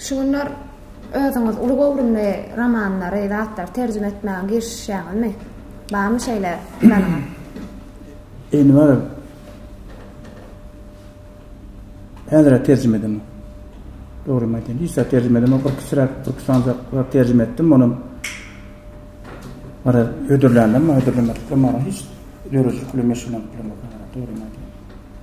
Şu günler özüňiz uly göwrümli romanlary, zatlary terjime etmäge girişişýäňizmi? Barmy şeýle planyňyz? Enwer Häzir terjime edemok. Dogrymy aýtayyn, hiç zat terjime edemok. Bir kiçiräk, bir kiçiräk terjime etdim. Onuň Ara ödürlänler mi, ödürlemedik mi, hiç döredijilik bilen meşgulanyp bilemok. Dogrymy aýtayyn.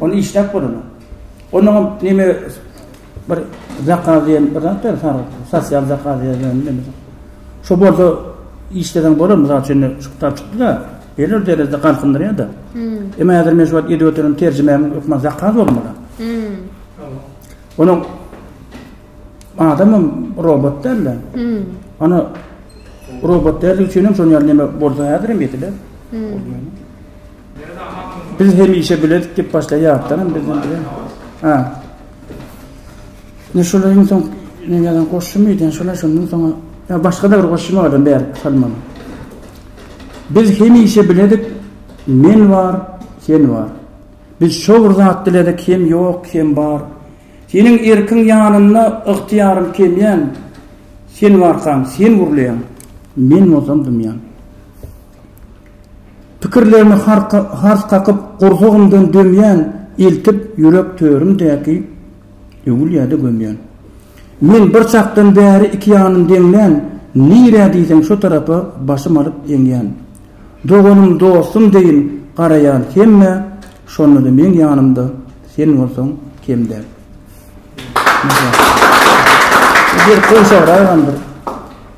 Ony işläp bolanok. Onuňam neme bir zakaz diýen bir zat bar, sag, sosial zakaz diýen neme. Şo bolsa işleden bolar, mysal üçin şu kitap çykdy-da, belli derejede galkyndyrýar-da. Emma häzir men şu wagt edip oturan terjimämiň hökman zakaz bolmaly. Onuň adamam robot däl-de. Ana robot däldigi üçin hem şonuň ýaly neme bolsa häzirem ýetiler. Biz hemişe biledik dep başlaýar ýatdanam bizden bile. Ha. Ne şolar ýene soň ne ýalan goşşum ýeten şolar şondan soň ýa başga da bir goşşum adam ber salman. Biz hemişe biledik men bar, sen bar. Biz şo bir zat diledik hem ýok hem bar. Seniň erkiň ýanynda ygtyýarym kemýän. Sen barkaň, sen gurlaýaň. Men bolsam dymýan. Pikirlerimi hars kakyp, gursagymdan dömýän, eltip, ýürek törümdäki öwülýä-de gömýän. Men bir çakdan bäri iki ýanyn deňlän, nirä diýseň şo tarapa başym alyp eňýän. Doganym, dostum deýin garaýan hemmä, şonda-da meň ýanymda sen bolsaň kem däl. Berk goşagyragam bir.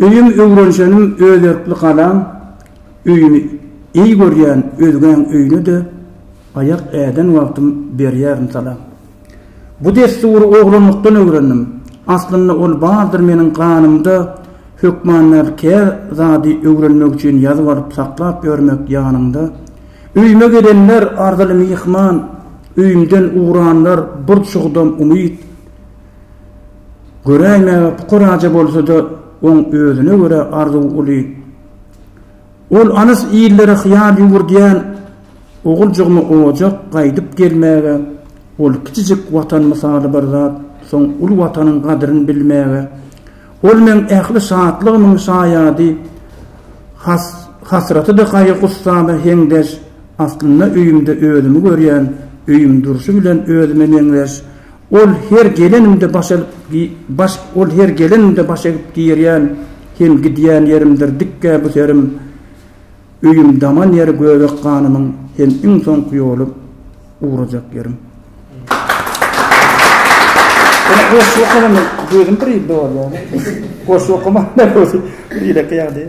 Öýüm öwrenşenim özerkli galam öýümi eý görýän özgäň öýüne-de aýak äden wagtym berýärin salam. Bu dessury oglanlykdan öwrendim. Aslynda ol bardyr meniň ganymda hökman nädip ker zady öwrenmek üçin ýazyp alyp saklap ýörmek ýanyňda. Öýüme gelenler arzyly myhman öýümden ugranlar bir çugdam umyt. Göräýmäge pukaraja bolsa-da, oň özüne görä arzuwy uly. Ol alys illere hyýal ýüwürdýän oguljygymy ojak gaýdyp gelmäge, ol kiçijik Watan mysaly bir zat, soň uly Watanyň gadyryn bilmäge, ol meň ähli şatlygymyň şaýady, has-hasraty-da gaýgy-gussama heňdeş, aslynda öýümde özümi görýän, öýüm durşy bilen özüme meňzeş, Ol her gelenimde baş alyp gi baş ol her gelenimde baş egip girýän hem gidýän ýerimdir dikgä bu serim öýüm daman ýeri göbek ganymyň hem iň soňky ýoly ugrajak ýerim. Ene goşgy okanam gözüm bir ýylda bolýar. Goşgy okamak ne bolýar? Ýürek ýagdaýy.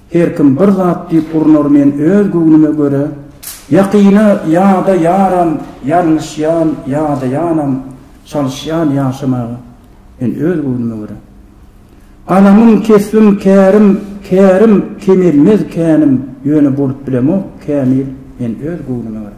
Her kim bir zat diýip urnar men öz göwnüme göre Ýakyny ýa-da ýaram ýalňyşýan ýa-da ýanam çalyşýan ýaşamaga men öz göwnüme göre Galamym kesbim kärim kärim kemelmez känim ýöne bolup bilemok kämil men öz göwnüme göre.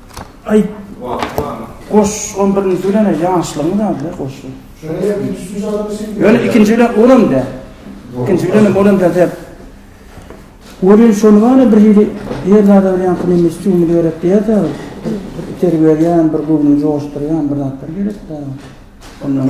Aý. Goş on birinji bilen-ä ýaşlygyň zady-da goşy. Ýöne ikinji bilen olam däl. Ikinji bilenem olam däl däp. Welin şony bar-a bir hili her zada bir ýaňky neme stimul gerek diýýärdi-ä. Bir itergi berýän, bir göwnüňi joşdurýan bir zatlar gerekdi-ä. Ondan.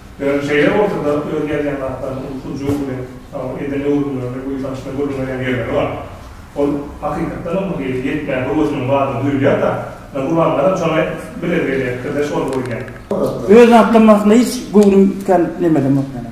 Ýöne şeýle bolsa-da, öz ýazýan zatlaryny ulsuj-u bilen dagy eden öwrümlerini buýsançly gürrüňleýän ýerleri bar. Ol, hakykatdanam, bu hili ýetmän höwesiniň bardygy duýulýar-da, ýa gurbanlaram şoňa bilez gelýäkdir-de, şol boýun ýa. Öz zatlaryny aslynda hiç göwrüm kän nemelemok ýaly.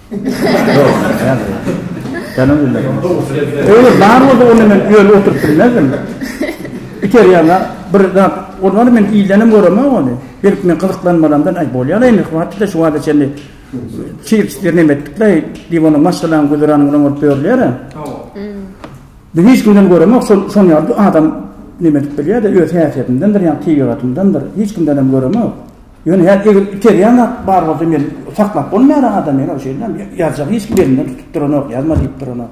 Öýe bar bolsa onda men öýe oturyp bilmezdim. Iter ýaňa bir zat bolmady men ildenem göremok ony. Belki men gyzyklanmalamdan aý bolýar indi wagtça şu wagta çenli çips bir neme etdikle diýip onda maşgalaň güzerany bilen bolup ýörler. Biz hiç kimden göremok şol şol ýaly adam neme edip bilýär-de öz häsiýetindendir ýa tebigatyndandyr hiç kimdenem göremok. Ýöne ýa eger iterýän zat bar bolsa men saklap bolmaýar aňa da men ol şeýdibem ýazjak hiç kim elinden tutup duranok ýazma diýip duranok.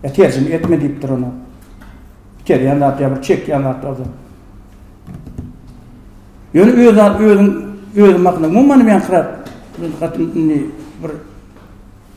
Ýa terjime etme diýip duranok. Iterýän zat ýa bir çekýän zat bolsa. Ýöne öz özüň özüň hakynda umuman men hatyn bir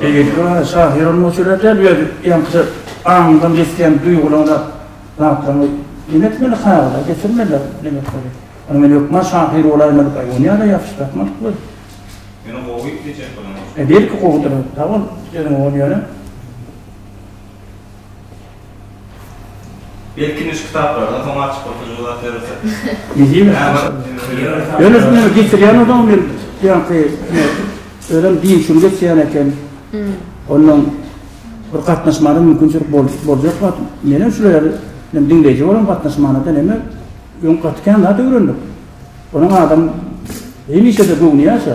Beýleki şahyryň bolsa şeýle däl, öz ýaňky aňyňdan geçýän duýgularyňda zatlaryňy neň etmeli, kagyza geçirmeli diýmek bolýar. Ýöne men hökman şahyr bolaýmalyka, ýöne ýa-da ýatyş ýatmalyk we. Ýöne gowy diýjek bolan. Belki gowudyr, sag bol, sözüň gowy ýöne. Belki şu kitaplardan soň açyp oturjak zat ýörese. Ýöne şu meni geçirýän adam men ýaňky özem diýşimi geçýän eken. Ondan bir gatnaşmana mümkinçilik boljak wagt menem şular ýaly men diňleýji bolan gatnaşmana da näme öň gaty kän zat öwrendik. Onuň adam hemişe-de göwni ýaşa.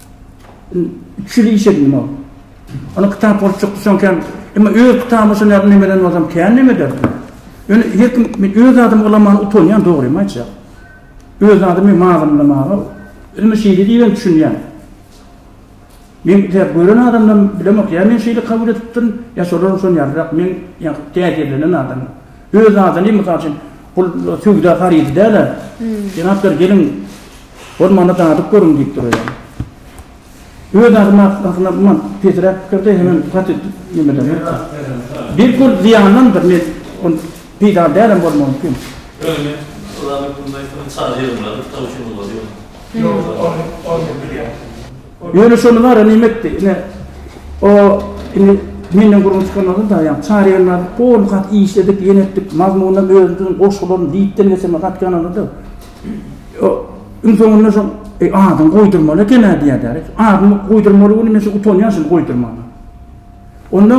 Üç ýyl iş edin ol. Ony kitap bolup çykdy şonken. Emma öz kitabyny şo nädip nemeden bolsam kän neme eder. Ýöne her kim men öz adymy ulanmaga utanýan dogrymy aýtjak. Öz adymy mazamlamaga özüme şeýle diýibem düşünýän. Men tä gören adamdan bilemok ýa men şeýle kabul edipdirin ýa şolar şon ýalyrak men ýa täsirlenen adam. Öz adyny mysal üçin bul söwda harydy däl-ä. Jenaplar geliň Bolmanda dadyp görüň diýip duraýan. Öz adam arkasyna mundan pesiräk pikirde hemem gaty nimelenmekdir. Belki ol zyýandandyr, men ol peýdaly dälem bolmagy mümkin. Öňe Ylanyp bilmek bilen çaga ýygnardyk taw üçin bolmaz ýöne. Ýok ony ony men bilýän. Ýöne şonda bara neme etdi ine o indi menden gürrüň çykan adam daýaň çaga ýygnardyk gowy ony gaty işledik ýene etdik mazmunynam özümiziň goşgularyny diýipden geçirmek gaty ýanalady. Iň soňunda şol, Eý, adyňy goýdurmaly eken-ä diýýärler. Adymy goýdurmaly welin, men şol utanýan şuny goýdurmaga. Onda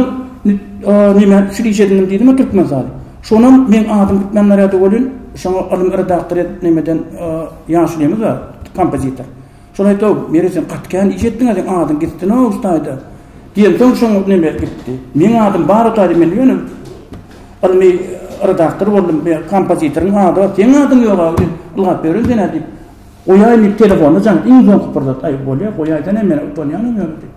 näme üçin iş edindim diýdim-ä Türkmenistaly. Şonam meň adym Türkmendarýada welin, şoňa alym redaktor edip nämeden Ýaşulymiz bar, kompozitor. Şony aýt-ow, Mary sen gaty kän iş etdiň-ä, seň adyň gitsin-ow Hutaýda! diýemsoň şoň neme gitdi. Meň adym bar Hutaýda, men ýöne ylmy redaktor boldum, meň kompozitoryň ady bar, seň adyň ýog-a, ylgap ýören sen-ä diýip, goýaý indi telefonda jaň, iň soňky pursat, aý bolýa, goýaýsana men utanýanam ýöne diýip.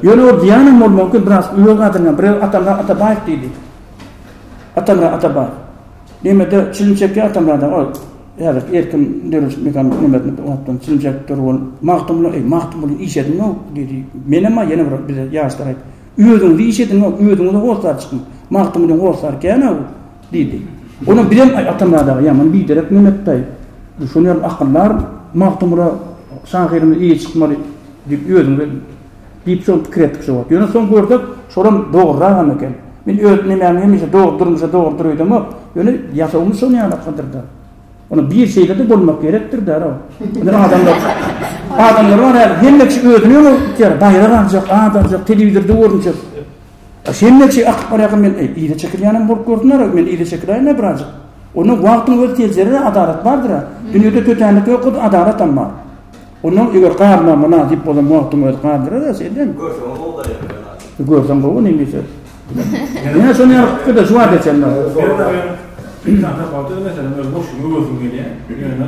Ýöne ol diýýänam bolup mümkin, biraz öz gadyryňam, biraz Atamyrat Atabaýew diýdi. Atamyrat Atabaýew. Nemede çilim çekýär Atamyrat aga, Häzirki erkin dörediş mehanizmlerine gabatdan siljek döwür bolup, Magtymguly, eý, Magtymguly, iş edinok, diýdi. Menem-ä ýene bir bize ýaşlara aýtdy. Özüňiz iş edinok, özüňiz-ä hossar çykyň. Magtymguly hossar kän-ä bu, diýdi. Onam bizem, aý, Atamyrat aga, ýaman biderek Memetdaý. Şonuň ýaly akyldar Magtymgula şahyrymyz eýe çykmaly diýip özüňiz edin. Diýip soň pikir etdik şo wagt. Ýöne soň gördük, şolam dogruragam eken. Men öz nemämi hemişe dogry durmuşa dogrudyr öýdemok. Ýöne ýasawymyz şonuň ýaly akyldyr-da. Ony bir şeýle-de bolmak gerekdir-dä-ä. Indi adamlar, adamlar bar häzir, hemme kişi özüni öňe itýär. Baýrak aljak, at aljak, telewizorda görünjek. Sen näçe akyp barýarka men eý yza çekilýänem bolup görsünler-ow men yza çekiläýin-le birazjyk. Onda wagtyň özi seljerer-ä adalat bardyr-a. Dünýede tötänlik ýokdy adalatam bar. Onda eger garyma mynasyp bolsam wagtyň özi gardyrar-a sellem. Görseň gowy bolýar bir ýagdaýda. Görseň gowy neme söz. Ýa şony ýaly pikirde juwap etseň-le. Bernaýew, Ilkjan tapawudy meselem öz boşlugyny göresim gelýär. Ýöne.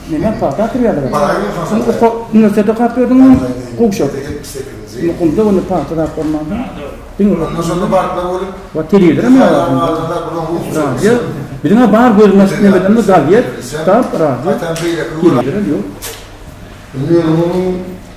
Menem hata atyp ýazyp Üniwersitetde hat berdiňmi? Gowşak. Mukumda onda pagta zat bolmansoň, diňe we telewizorem ýok. Radio, biziň-ä bar gözümiz açyp näme edenimiz gazet, kitap, radio. Telewizorem ýok.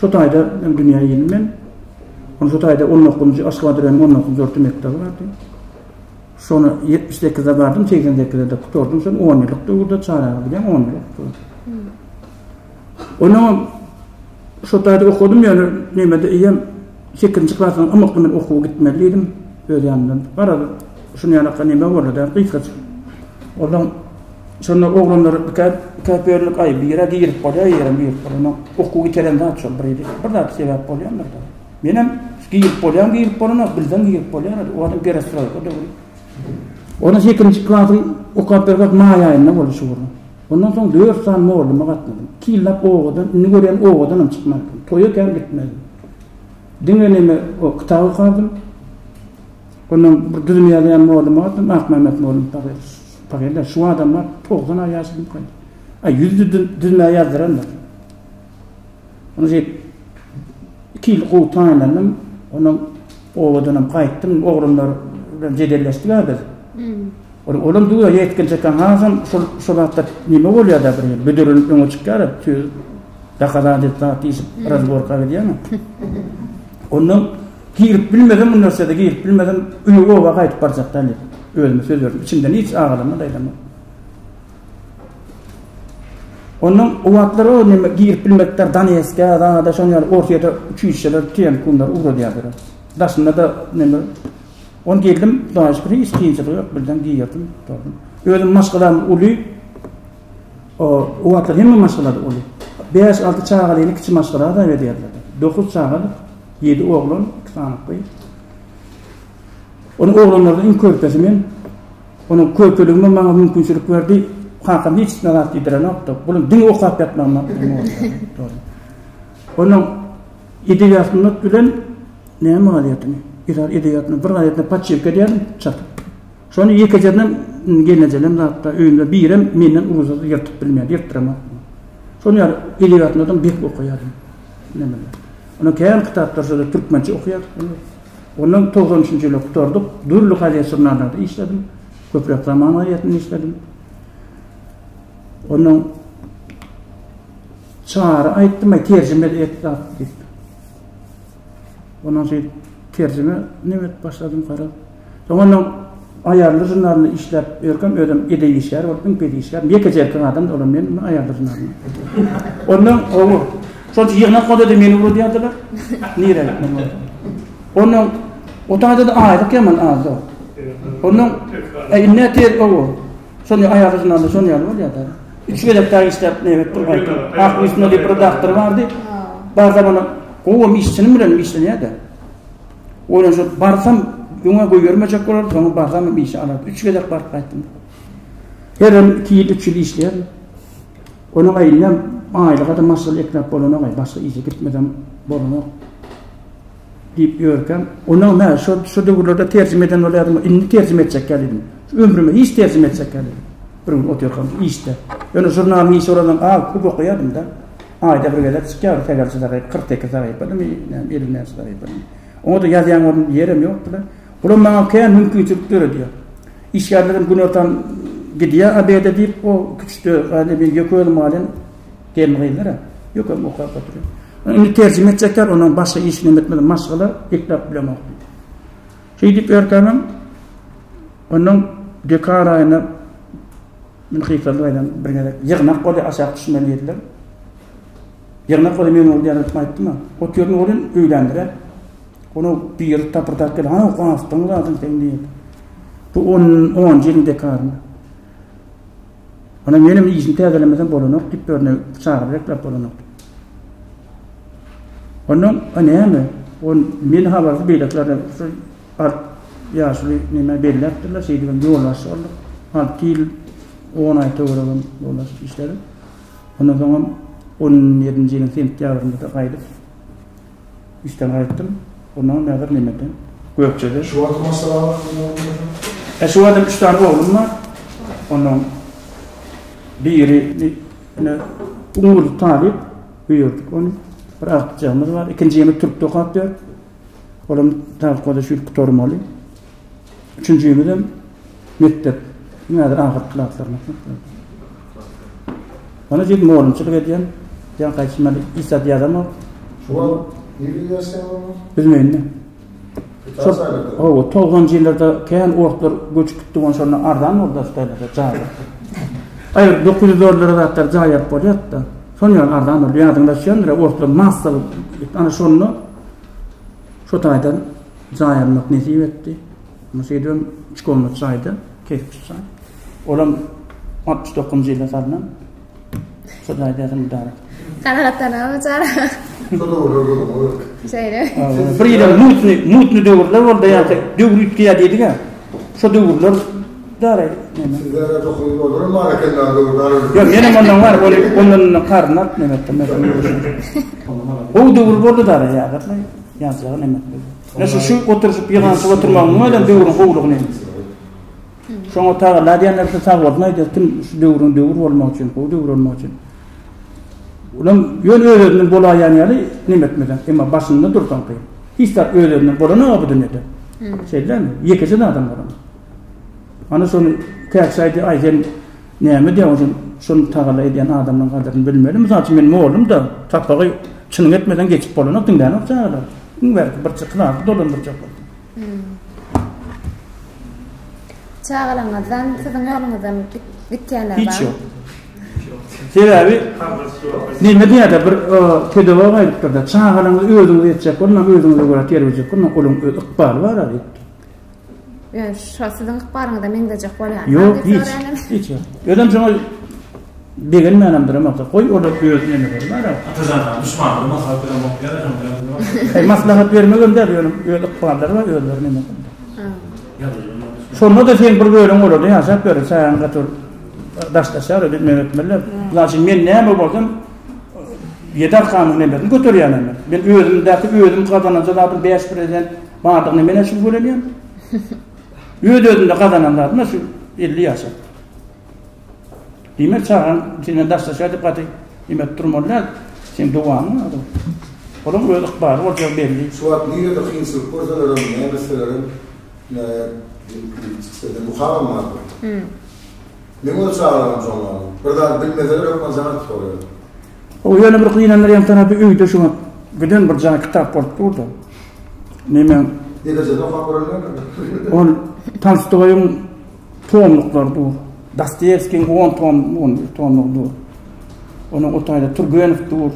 Şu taýda men dünýä geldim men. Ony şu taýda on dokuzynjy Aşgabat raýonynyň on dokuzynjy orta mekdebi bardy. Şony ýetmiş sekizde bardym, segsen sekizde gutardym. Şony on ýyllyk döwürde çagalyk gidýän on ýyllyk gutardym. Onuň şu taýda okadym, ýöne nämede eýem sekizinji klasyň ymykly men okuwa gitmeli diýdim. Öz ýanymdan. Garaz, şuny ýalaka näme boldy-da, gysgaça. Olam Şonda oglanlar ikä, ikä bölüp, aý, bire girip bolýar, ýerem girip bolýar. Okuw ýiteren zat şol bir ýerde. Bir zat sebäp bolýandyr da. Menem girip bolýan, girip bolana, bilseň girip bolýar, o adam perestroýka döwri. Onda sekizinji klasy okap bir wagt maý aýynda boldy şu gün. Ondan soň dört sany molluma gatnadym. Iki ýyllap owadan, indi görýän owadan hem çykmaýarkam. Toýa kän gitmedim. Diňe neme o kitap okardym. Ondan bir düzüm ýazýan molluma gatnadym, Akmämmet mollum taýýar. Pagella, şu adamlar togsan aý ýaşadypykaý. A ýüz düzmä ýazdyrandyr. Ony diýip, iki ýyl gowy tanandym. Ondan obadanam gaýtdym. Oglanlar bilen jedelleşdik-ä biz. Olam duýýar, ýetginjekkäň hasam şol şo zatlar neme bolýar-da bir ýerde, büdrülenip öňe çykýar-a, söz, dokazancestwa diýşip, razborka gidýäň-ä. Ondan Girip bilmesem mundan size-de girip bilmesem öýe oba gaýdyp barjakdan diýip özüme söz berdim. Içimden hiç agalamok, aýlamok. Ondan o wagtlar o neme girip bilmekler Donetsk'e, Adana'da şoň ýaly Orsiýada uçuşçylar, TNK-lar ugradýarlar. Daşynda da neme On geldim, daşyp hiç kynçylyk ýok, birden girdim, durdum. Özüm maşgalam uly, O wagtlar hemme maşgalada uly, bäş-alty çagalyny kiçi maşgala hasap edýärler. Dokuz çagalyk, ýedi oglan, iki sany gyz. Onuň oglanlarynyň iň körpesi men. Onuň körpeligim maňa mümkinçilik berdi. Kakam hiç zat zat diýdirenokdy. Bular diňe okap ýatmagymdan bolýar. Onuň edebiýatyny bilen näme gazetini? Edebiýatyny bir gazetini paçýewka edýärdim, çap. Şony ýekejenem gelnejelem zatda öýünde birem menden ugruzada ýyrtyp bilmeýär, ýyrtdyramak. Şony ýaly edebiýatyny adam bek okaýar. Nämeler. Onuň kän kitaplary şol türkmençe okaýar. Ondan togsan üçünji ýyly gutardyk. Dürli gazet-žurnallarda işledim. Köpräk Zaman gazetinde işledim. Onuň Çary aýtdym, terjime et zat diýip. Ondan soň terjime name edip başladym garaz. Soňundan Aýarly žurnalynda işläp ýörkäm özüm edebi işgär bolup iň pes işgär. Ýekeje erkek adam olam men bu Aýarly žurnalynda. Ondan gowy. Şonça ýygnak bolady meni uradýardylar. Nirä gitmeli boldy. Ondan otagda da aýlyk ýaman azdy. Ondan indi tez gowy. Şony aýagy ýygnanda şon ýaly bolýar da. Üç gezek daýy işläp nebet bir gaýta. Ak üstünde bir redaktor bardy. Barda bana gowum işçinim bilen işlenýärdi. Oýlan şu barsam öňe goýbermejek bolar, soňa barsam bir işe alar. Üç gezek baryp gaýtdym. Her ýyl iki ýyl, üç ýyl işleýär. Onuň aýynda aýlyga da maşgal ekläp bolanok, başga işe gitmesem bolanok. Diýip ýörkäm, Onuň nä, şo döwürlerde terjime eden bolýardym, indi terjime etjek ýaly diýdim. Ömrümde hiç terjime etjek ýaly diýdim. Bir gün otyrkam işde, ýöne žurnalyň işi olardan az, köp okaýardym-da. Aýda bir gezek çykýardy sähelçe sahypa, kyrk sekiz sahypamymy, näme, elli näçe sahypamy. Oňa-da ýazýan bolmady, ýerem ýokdy-da. Bulam maňa kän mümkinçilik döredýär. Işgärlerim günortan gidýär obeda diýip, o kiçi, ýeke özüm galýan. Gelin gyzlara ýökem okap oturyp. Indi terjime etjekler, onuň başga işi näme etmeli, maşgala geplap bilemok diýdi. Şeýdip erkänem onuň dekar aýyna Bilkyslar aýdan bir gezek ýygnak boldy, aşak düşme diýdiler. Ýygnak boldy, men boldy ýalyp aýtdym. Otyrdym, oglum öýlendirä. Onu bir ýer tapyrdak geldi. Ana, gastyň zadyň sen diýdi. Bu 10-njy ýylyň dekaryny. Onam menem işini täzelemesem bolanok diýip birine çagyryp rekläp bolanok diýip. Ondan a näme? On men habarsyz beýlekilerde şu art ýaşuly näme belläpdirler şeýdibem ýolbaşçy bolduk. Alty ýyl on aý töweregem ýolbaşçy işledim. Ondan soňam on ýedinji ýylyň sentýabrynda-da gaýdyp Işden gaýtdym. Gurnama mäzir nemede? Gökjede. Şu wagtam maşgala wagtyň ýok diýýärsiň? He, şu wagtam üç sany oglum bar. Onuň biri ine Umurdy talyp, buýurdyk ony. Bir agtyjagymyz bar. Ikinji ýene türkde okap ýör. Olam tabka-da şu ýyl gutarmaly. Üçünjimizem mekdep. Diňe häzir ahyrky klaslaryň mekdepleri. Ony jigim molumçylyk edýän, ýa gaýçy mende hiç zat ýazamok. Şu wagt nirede ýaşaýaň onda? Büzmeýinde. Şol hawa, togsanjy ýyllarda kän orslar göçüp gitdi bolsa şonda arzan boldy daş taýlarda jaý. Aýryk dokuz ýüz dollara zatlar jaý alyp bolýardy-da. Şol ýaly arzan bolýar. Ýadyňda düşýändir, orslar massalyk. Ana şonda şo taýdan Jaý almak nesip etdi. Muňa şeýdibem üç komnat jaýda, kerpiç jaý. Olam altmyş dokuzynjy ýylda salnan. Şol jaýda ýaşan mydama. Kanagatlanarmy çara? Şeýle. Bir ýyl mutny, mutny döwürler boldy ýa-da döwür üýtgeýär diýdik-ä. Şo döwürler dara. Sizlere dokuz bolar mı hareketler döwürler? Yok, yine ondan var, ondan ondan karnat ne ettim. O döwür boldy dara ýa-da. Ýaşlara näme etmeli? Ýa şu şu oturyşyp ýygnanyşyp oturmagyň bilen döwrüň gowulygy näme? Şoňa tagalla diýenler şu sag bolsun aýdýar, kim şu döwrüň döwür bolmagy üçin, gowy döwür bolmagy üçin. Olam ýöne öz-özünden bolaýan ýaly näme etmeli? Emma başynda dursaň kyn. Hiç zat öz-özünden bolany ýok bu dünýäde. Şeýdemi? Ýekeje adam bolan. Ana şony käşaýdy aýdan Näme edýäň özüň? Şuny tagalla edýän adamyň gadyryny bilmeli. Mysal üçin men mollum-da, sapagy çynyň etmeseň geçip bolanok, diňlänok çagalar. Iň bärkisi birçe klasy dolandyrjak bolsa. Çagalaryňyzdan, siziň ýoluňyzdan gitýänler barmy? Hiç ýok. Sebäbi näme diýýärler, bir pedagog aýdypdyr-da, çagalaryňyzy özüňiz etjek bolmaň, özüňize görä terbiýe etjek bolmaň, olaryň öz ykbaly bar-a diýipdir. Ýöne şo siziň ykbalyňyza meňzejek bolýar. Ýok, hiç. Hiç. Özem şoňa begenmänimdir hem agta. Goý, olar öz näme bolýar? Atajan aga, düşmanlar maslahat berip okyýar, hem bilen. Maslahat bermek hem däl, ýöne öz ykballary bar, özleri näme bolýar? Şonda-da sen bir bölüň olarda ýaşap ýör, säň gaty daşlaşýar, öýdip näme etmeliler? Bular üçin men näme bolsam, Ýedi arkanyň nembesini göterýänem men. Men özümdäki özüm gazananja zadym bäş prezident bardygyny men-ä şübhelenýän. Öz-özümde gazanan zadym-a şu elli ýaşa. Diýmek, çagan senden daşlaşýar diýip gaty iýmit durmaly däl. Sen dowamy adam. Onuň öz ykbaly boljagy belli. Şu wagt nirede kynçylyk görseler hem, näme etseler hem, näme, diýip, diýip çyksa-da, muhal almazlar. Men ony çagyraram şondanam. Bir zady bilmeseler hökman jaňa tutar ýöne. Hoo ýöne bir gynandyrýan tarapy öýde şu wagt giden bir jaý kitap bolup durda. Nemeň. Neticede okap görelmekmi? Ol Tolstoýyň tomluklary dur. Dostoýewskiň on tom on bir tomlugy dur. Onuň o taýda Turgenow dur.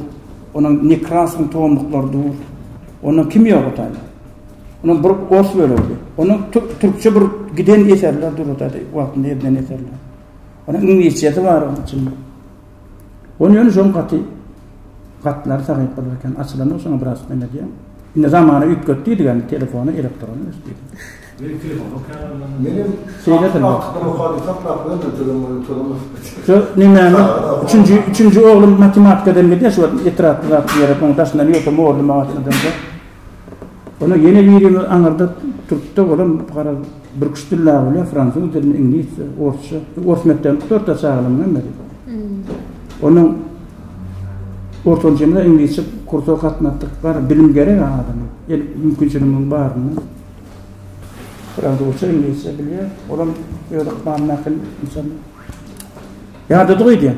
Onuň Nekrasowyň tomluklary dur. Onuň kimi ýok o taýda. Onuň bir ors bölegidi. Onuň türkçe bir giden eserler durudady, wagtynda edilen eserler. Onuň iňlisçesi bar onuň içinde. Onu ýöne şoň gaty gatlar sagyp bolar eken. Açylan o şoňa biraz men edýän. Indi zamana üýtget diýdi ýa telefony elektron ös diýdi. Men telefon okaýan. Menem şeýle telefon okaýan. Saklap goýan da telefon bolan telefon. Şu näme? Üçünji, üçünji oglum matematikadan gidýär şu etrapda ýere onuň daşyndan ýöte morly maşynda. Onda ýene birimiz aňyrda türkde bolan garaz bürküş dillä bolýar, fransuz dilini, iňlisçe, orsça. Ors mekdebini gutartýar çagalarymyň hemmesi. Onuň ortanjymyza iňlisçe kursa gatnatdyk. Bar bilim gerek adama. El mümkinçiligiň barynda. Fransuzça, iňlisçe bilýär. Olam öz ykbalyna äkil inşallah. Ýadadyk öýdýän.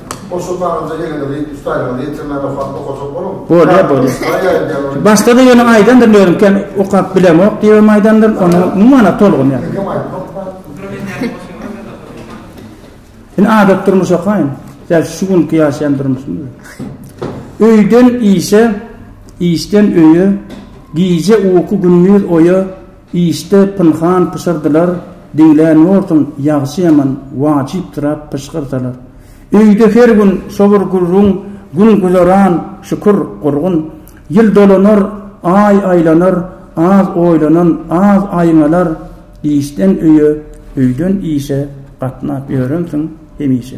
Bolýa bolýa. Başda-da ýöne aýdandyr lirika okap bilemok diýibem aýdandyr, ony umuman a tolgun ýa. Indi adat durmuş okaýyn. Däl şu günki ýaşaýan durmuşymyz. Öýden işe, işden öýe, gije uky gündüz oýa, Işde pynhan pyşyrdylar diňlän borsuň ýagşy-ýaman wajypdyrap pyşgyrsalar. Öýde her gün şo bir gürrüň gün güzeran şükür gurgun. Ýyl dolanar, aý aýlanar az oýlanan az aýňalar işden öýe öýden işe gatnap ýörensiň hemişe.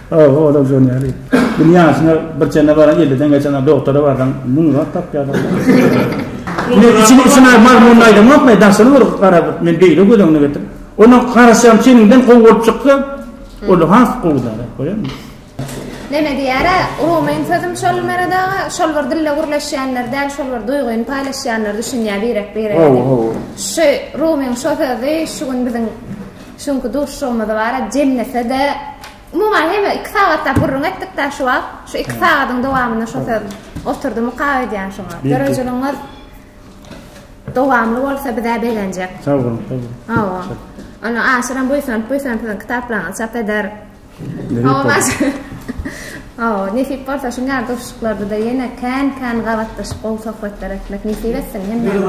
Hawa, ol-a Joneli. Gün ýaşyna bir çene baran, elliden geçen-ä dogtara barsaň, müň zat tapýar-a. Ine, içini içine mazmunyny aýdamokmy, daşyny bir garadyp, men beýle göz öňüne getir. Onuň garaşýan çeniňden gowy bolup çyksa, ol has gowy zat, goýaňmy? Neme diýer-ä, urugymyň sözüm şol Merad aga, şol bir dille gürleşýänler däl, şol bir duýgyny paýlaşýanlar düşünýär birek-birege. Hawa, hawa. Şu Rumyň şo sözi şu gün biziň Şu günki duşuşygymyzy bara jemlese-de, umuman hemme iki sagatlap gürrüň etdik-dä şu wagt. Şu iki sagadyň dowamynda şo söz oturdy mukap edýän şoňa. Dörejiligiňiz dowamly bolsa biz-ä begenjek. Sag boluň, sag boluň. Hawa. Ondan aşyram buýsanyp-buýsanyp siziň kitaplaryňyzy çap eder. Hawa, nesip bolsa şu ýaly duşuşyklarda-da ýene kän-kän gabatlaşyp gowy sohbetler etmek nesip etsin hemmämize.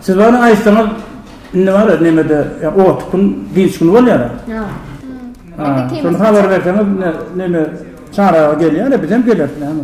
Siz ony aýtsaňyz indi bar-a nemede otug gün dynç güni bolýar-a. Hawa. Şony habar berseňiz neme çaryga gelýär-a bizem geleris näme.